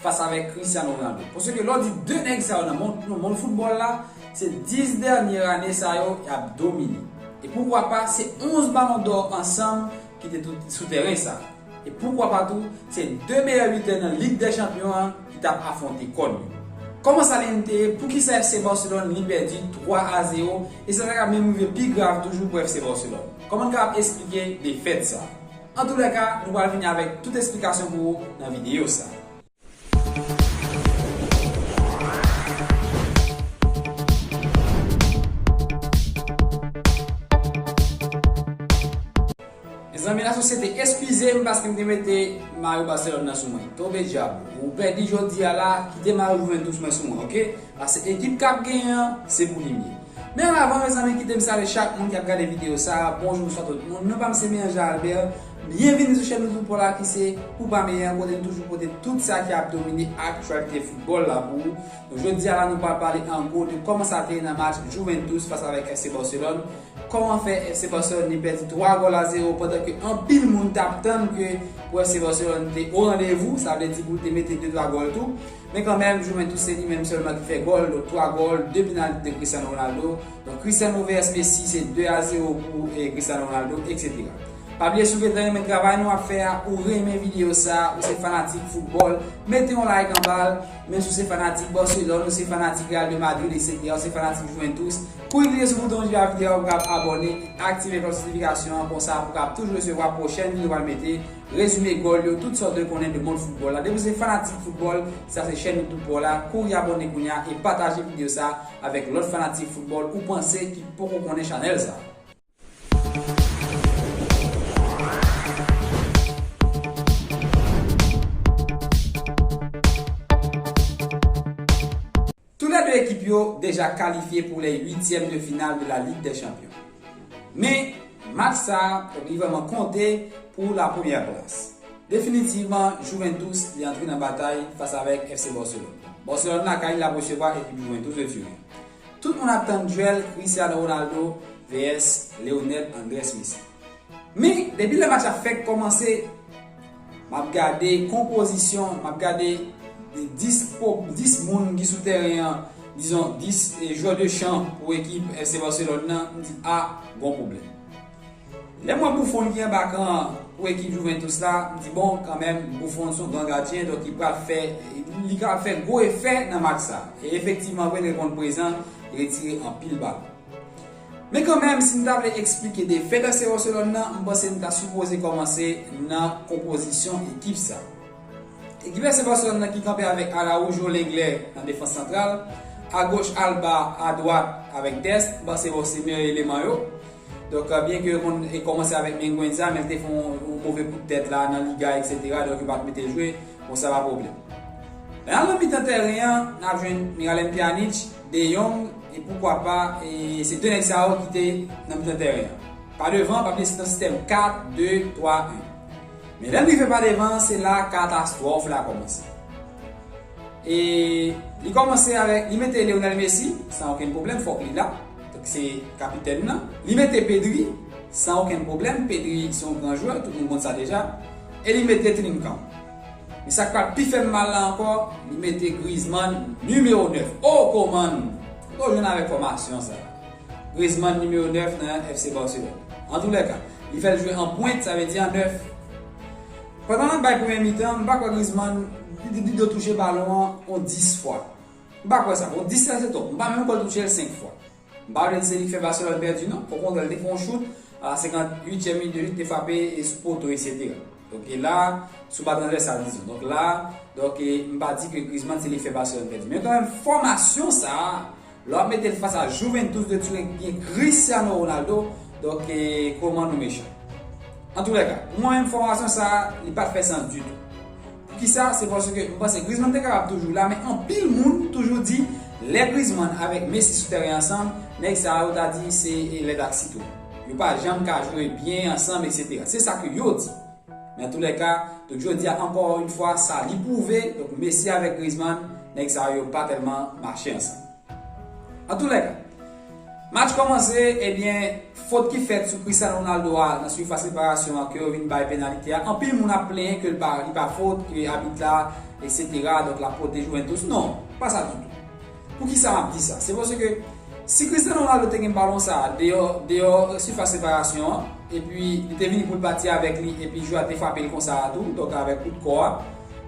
fas avèk Cristiano Ronaldo. Pase ke lè w di 2 nèg sa yo nan mond, nan mond foutbòl la, se 10 dènye ane sa yo y ap domine. E poukwa pa, se 11 balon dò ansanm ki te tou sou tèren sa. E poukwa pa tou, se 2 meyè bitè nan Lig dè Chanpyon an ki t ap afwonte kò l yo. Kòman sa li menm te ye? Poukisa FC Barcelone li pèdi 3 a 0 e sa ta ka menm rive pi grav toujou pou FC Barcelone? Kòman n kapab esplike defèt sa? Antoulèka, nou pral vini avèk tout esplikasyon pou ou nan videyo sa a. Mezanmi la sosyete eskize m paske m te mete mayo Barcelone nan sou mwen. Tonbe djab. Ou pèdi jodi a la, kite mayo Juventus mwen sou mwen ok. Pase ekip kap genyen an se pou li mye. Men avan mezanmi kitem salye chak moun kap gade video sa bonjou bnswa tout moun non pam se Miranja Albert byen vini sou chèn YouTube paw la kise pou pa meyen an kote nou toujou pote tout sa ki ap domine aktyalite football la pou ou nou jodia la nou pral pale an gwo de kòman sa te ye nan match Juventus fas avèk FC Barcelone kòman fè FC Barcelone li pèdi 3 gòl a 0 pandan ke anpil moun tap tann ke pou FC Barcelone te o randevou sa vle di pou l te mete 2 3 gòl tou Men kanmenm, Juventus se li menm sèlman ki fè gòl, donk 3 gòl, 2 penalty de Cristiano Ronaldo, donk Cristiano vs Messi se 2 a 0 pou Cristiano Ronaldo, etc. Pa bliye si w gentan renmen travay nou ap fè a, ou renmen videyo sa, ou se fanatik foutbòl, mete yon like anba l, menm si w se fanatik Barcelone, ou se fanatik Real de Madrid, etc. Ou se fanatik Juventus, kouri klike sou bouton ji a videyo a pou w kapab abòne, aktive klòch notifikasyon an, konsa pou w kapab toujou resevwa pwochèn videyo nou pral mete. Rezime gòl yo, tout sa w dwe konnen de mond foutbòl la. Depi w se fanatik foutbòl, sa se chèn youtube pa w la, kouri abòne kounya e pataje video sa avèk lòt fanatik foutbòl ou panse ki poko konnen chanèl sa. Tou lè 2 ekip yo deja kalifye pou lè uityèm de final de la Ligue des Champions. Men, match sa li vrèman konte pou la premyè plas. Definitivman, Juventus li antre nan batay fas avèk FC Barcelone. Barcelone lakay li lap resevwa ekip Juventus de Turin. Tout moun ap tann duel Cristiano Ronaldo vs Leonel Andres Messi. Men, depi lè match la fèk kòmanse, Map gade konpozisyon, map gade 10 po, 10 moun ki sou tèren an, dizon 10 jwè de chan pou ekip FC Barcelone nan, m di a, gon pwoblèm. Lè m wè Buffon ki anba kan an pou ekip Juventus la, m di bon, kanmenm Buffon son gran gadyen, donk li pral fè, li kapab fè gwo efè nan match sa. E efektivman vre l reponn prezan, li retire anpil balon. Men kanmenm, si n ta vle eksplike de fè danse Wòselòn nan, m panse n ta sipoze kòmanse nan konpozisyon ekip sa. Ekip FC Barcelone nan ki kanpe avèk Araujo Lenglet nan defans santral, agoch Alba, adwat avèk Dest, m panse bon se meyè eleman yo. Donk byen ke yo konn kòmanse avèk Minguenza men l te fè yon move kout tèt la nan Liga eksetera donk yo pa t mete l jwe, bon sa pa pwoblèm. Men al nan mitan tèren an, n ap jwenn Miralem Pjanic, De Jong e poukwa pa e se 2 nèg sa yo ki te nan mitan tèren an. Pa devan pa plis nan sistèm 4, 2, 3, 1. Men lè n rive pa devan se la katastwòf la kòmanse. E li kòmanse avèk li mete Lionel Messi san okenn pwoblèm fòk li la paske se kapitèn nan. Li mete Pedri san okenn pwoblèm, Pedri se yon gran jwè tout moun konn sa deja e li mete Trincão. Men sak pral pi fèm mal la ankò li mete Griezmann numéro 9 oh komann oh jwenn avèk fòmasyon sa Griezmann numéro 9 nan yon FC Barcelone antoulèka li fèl jwe an pwent sa vle di an 9 pandan lap bay premyè mitan mpa kwè Griezmann li dwe touche balon an on 10 fwa mpa kwè sa bon 10 sa se twòp mpa menm kwèl touchel 5 fwa. M pa vle di se li k fè Barcelone pèdi non, okontrè l te fè yon chout a 58 tièm minit de jeu, te frape sou poto eksetera. Donk la, sou ba transvèsal dizon. Donk la, donk m pa di ke Griezmann se li k fè Barcelone pèdi. Men kanmenm fòmasyon sa a, lè w ap mete l fas a Juventus de Turen ki gen Cristiano Ronaldo, donk koman nou mechan. Antoulèka, pou mwen menm fòmasyon sa a, li pa t fè sans ditou. Poukisa? Se paske m panse Griezmann te kapab toujou la men anpil moun toujou di lè Griezmann avèk Messi sou tèren ansanm nèg sa yo ta di se lèt ak sitwon. Yo pa janm ka jwe byen ansanm eksetera. Se sa ke yo di. Men antoulèka, tout jodi a ankò yn fwa sa li pwouve donk Messi avèk Griezmann nèg sa yo pa tèlman mache ansanm. Antoulèka, match kòmanse ebyen fot ki fèt sou Cristiano Ronaldo a nan sifas reparasyon an ke yo vin bay penalite a anpil moun ap plenyen ke li pa fot ke abit la etc donk lap pote Juventus non pa sa ditou poukisa map di sa se paske si Cristiano Ronaldo te gen balon sa deyò deyò sifas reparasyon an epi li te vini poul pati avèk li epi jwè a te frapel konsa a tou donk avèk kout kò a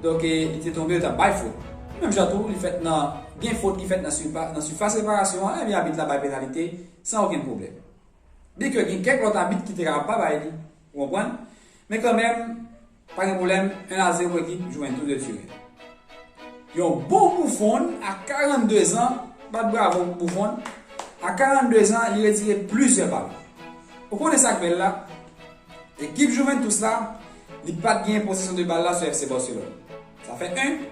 donk li te tonbe yo tap bay fot menm jan tou li fèt nan Gen fot ki fèt nan sifas reparasyon an, enben abit la bay penalite san okenn pwoblèm. Byenke gen kèk lòt abit ki te kapab pa bay li, ou konprann, men kanmenm, pa gen pwoblèm, 1 a 0 ekip jwenn tou 2 tirè. Yon bon Buffon a 42 zan, bat bravo pou Buffon, a 42 zan li retire plizyè balon. Ou konnen sa k bèl la? Ekip Juventus la, li pa t genyen posesyon de bal la sou FC Barcelone. Sa fè 1.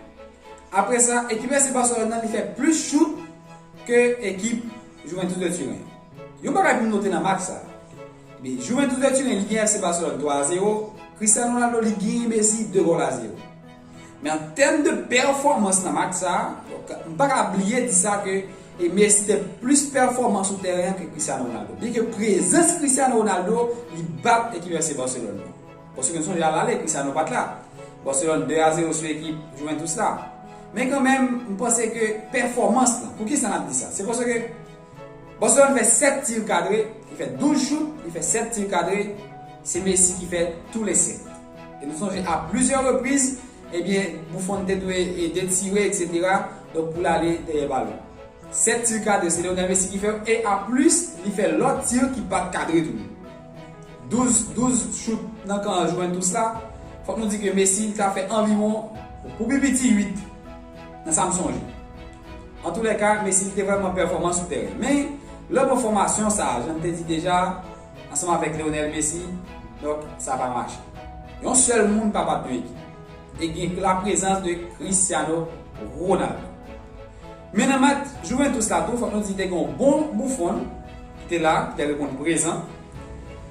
Apre sa, ekip FC Barcelone nan li fè plis chout ke ekip Juventus de Turen. Yon bagay pou nou note nan match sa. Ebyen, Juventus de Turen li genyen FC Barcelone 3 a 0, Cristiano Ronaldo li genyen Messi 2 gòl a 0. Men an tèm de pèfòmans nan match sa, donk m pa ka bliye di sa ke e Messi te plis pèfòman sou tèren an ke Cristiano Ronaldo. Byenke prezans Cristiano Ronaldo li bat ekip FC Barcelone nan. Paske nou sonje al ale kisa nou pat la. Barcelone 2 a 0 sou ekip Juventus la. Men kanmenm m panse ke pèfòmans lan, poukisa nap di sa? Se paske Barcelone fè 7 tir kadre, li fè 12 chout, li fè 7 tir kadre, se Messi ki fè tou le 7. E nou sonje a plizyè repriz, ebyen Buffon te dwe ede tire etc. Donk pou l ale dèyè balon. 7 tir kadre se Lionel Messi ki fè yo e a plis li fè lòt tir ki pat kadre tou. 12 12 chout nan kan an jwenn tou sa, fòk nou di ke Messi ka fè anviwon pou pi piti 8 nan sa m sonje. An tou lè ka, Messi te vrèman pèfòman sou tèren. Men, lè w pran fòmasyon sa, jan m te di deja, ansanm avèk Lionel Messi, donk sa pa mache. Yon sèl moun pa bat yon ekip. E gen laprezans de Cristiano Ronaldo. Men nan match Juventus la tou fòk nou di te gen yon bon Buffon ki te la, ki te reponn prezan.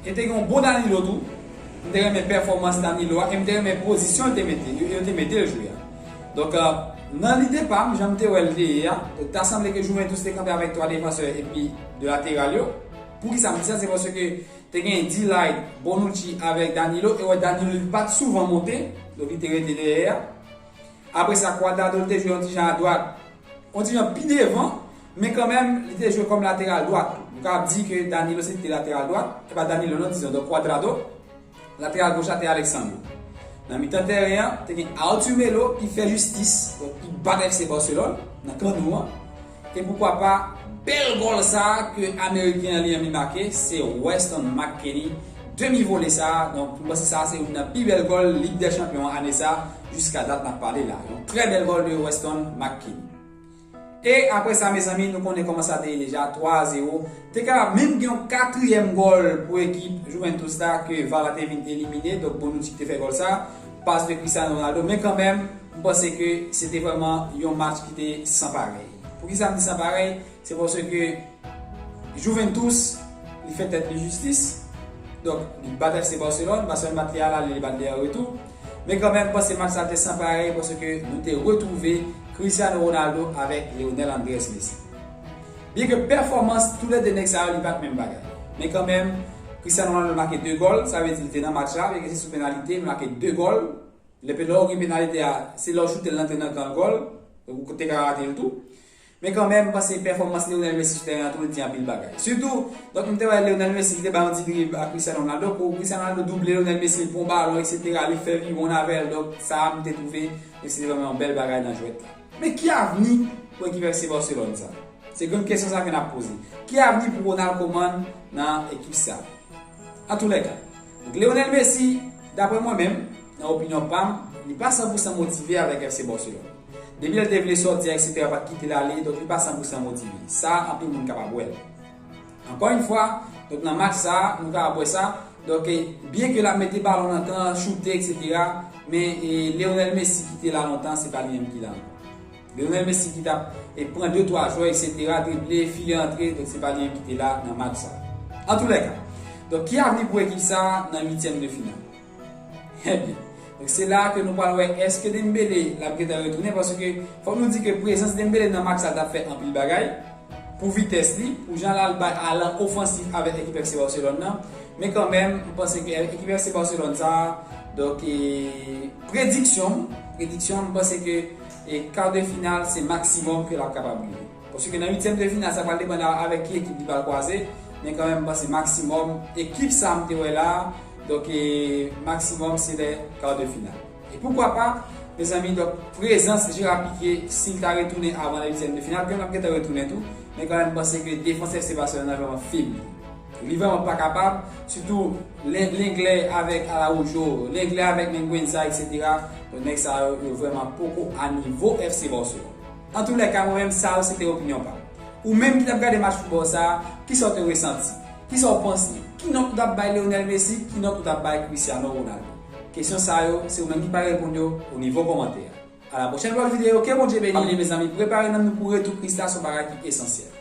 E te gen yon bon Danilo tou. M te renmen pèfòmans Danilo a e m te renmen pozisyon l te mete, yo te mete l jwe a. Donk, nan lide pa m, jan m te wè l te ye a, ta sanble ke Juventus te kanpe avèk 3 defansè epi 2 lateral yo. Poukisa m di sa? Se paske te gen D-Light, Bonucci avèk Danilo e wè Danilo li pa t souvan monte, donk li te rete dèyè a. Apre sa, Cuadrado te jwe yon ti jan adwat, yon ti jan pi devan, men kanmenm li te jwe kòm lateral dwat tou. Nou kapab di ke Danilo se li ki te lateral dwat, e pa Danilo non, dizon donk Cuadrado. Lateral goch la te Alexandro. Nan mitan tèren an, te gen Arthur Melo ki fè jistis, donk ki bat FC Barcelone nan kan nou an. E poukwa pa, bèl gòl sa a ke ameriken an li anvi make, se Weston McKennie, demi vole sa a, donk m panse sa a se youn nan pi bèl gòl Lig dè Chanpyon ane sa a jiska dat n ap pale la. Yon trè bèl gòl de Weston McKennie. E apre sa mezanmi nou konnen kòman sa te ye deja, 3 a 0. Te kapab menm gen yon katriyèm gòl pou ekip Juventus la ke var la te vin elimine, donk Bonucci ki te fè gòl sa a. Pas de Cristiano Ronaldo men kanmenm m panse ke se te vrèman yon match ki te san parèy. Poukisa m di san parèy? Se paske Juventus li fè tèt li jistis, donk li bat FC Barcelone, Barcelone bat li a l'aller li bat li a retour. Men kanmenm m panse match sa te san parèy paske nou te retwouve Cristiano Ronaldo avèk Lionel Andrés Messi. Byen ke pèfòmans tou le 2 nèg sa yo li pat menm bagay. Men kanmenm, Cristiano Ronaldo make 2 gòl, sa vle di li te nan match la, byen ke se sou penalite, li make 2 gòl. Lè pe lè ou gen penalite a, se lè ou choute l lantre nan kan gòl, donk ou te ka rate l tou. Men kanmenm, m panse pèfòmans Lionel Messi sou tèren an tou li di anpil bagay. Sitou, donk m te wè Lionel Messi ki te bay yon ti drib a Cristiano Ronaldo pou Cristiano Ronaldo double Lionel Messi, l pran balon eksetera, li fè viwonn avè l, donk sa a m te twouve, donk se te vrèman yon bèl bagay nan jwèt la. Men ki avni pou ekip FC Barcelone sa? Se gran kesyon sa ke nap poze. Ki avni pou Ronald Koeman nan ekip sa? Antoulèka, donk Lionel Messi, daprè mwen menm, nan opinyon pam, li pa san pou san motive avèk FC Barcelone. Depi lè l te vle sòti a etc pat kite l ale, donk li pa san pou san motive. Sa anpil moun kapab wè l. Ankò yn fwa, donk nan match sa a, nou ka ap wè sa, donk byen ke l ap mete balon nan kan, choute etc. Men Lionel Messi ki te la lontan, se pa li menm ki la ankò. Lionel Messi ki t ap pran de twa jwè etc. Drible, file antre, donk se pa li menm ki te la nan match sa a. Antoulèka, donk ki avni pou ekip sa a nan uityèm de final? Ebyen, donk se la a ke nou pral wè èske Dembele lap gentan retounen paske fòk nou di ke prezans Dembele nan match sa tap fè anpil bagay pou vitès li, pou jan lal bay alan ofansif avèk ekip FC Barcelone nan, men kanmenm m panse ke ekip FC Barcelone sa a, donk prediksyon m, prediksyon m panse ke kar de final se maksimòm ke lap kapab rive. Paske nan uityèm de final sa pral depann avèk ki ekip li pral kwaze, men kanmenm m panse maksimòm ekip sa m te wè la a, donk maksimòm se lè kar de final. E poukwa pa mezanmi donk prezans Jera Pike si l ta retounen avan lè uityèm de final, ke m ap gentan retounen tou, men kanmenm m panse ke defans FC Barcelone la vrèman febli. Li vrèman pa kapab, sitou Lenglet avèk Araujo, Lenglet avèk Minguenza eksetera, donk nèg sa yo yo vrèman poko a nivo FC Barcelone. Antoulèka mwen menm sa yo se te opinyon pa m. Ou menm ki t ap gade match foutbòl sa a, ki sa w te resanti? Ki sa w panse? Ki nòt ou t ap bay Lionel Messi? Ki nòt ou t ap bay Cristiano Ronaldo? Kesyon sa yo, se ou menm ki pral reponn yo o nivo kòmantè a. A la pwochèn pou lòt videyo, ke Bondye beni li mezanmi, prepare nanm nou pou retou Kris la s on bagay ki esansyèl.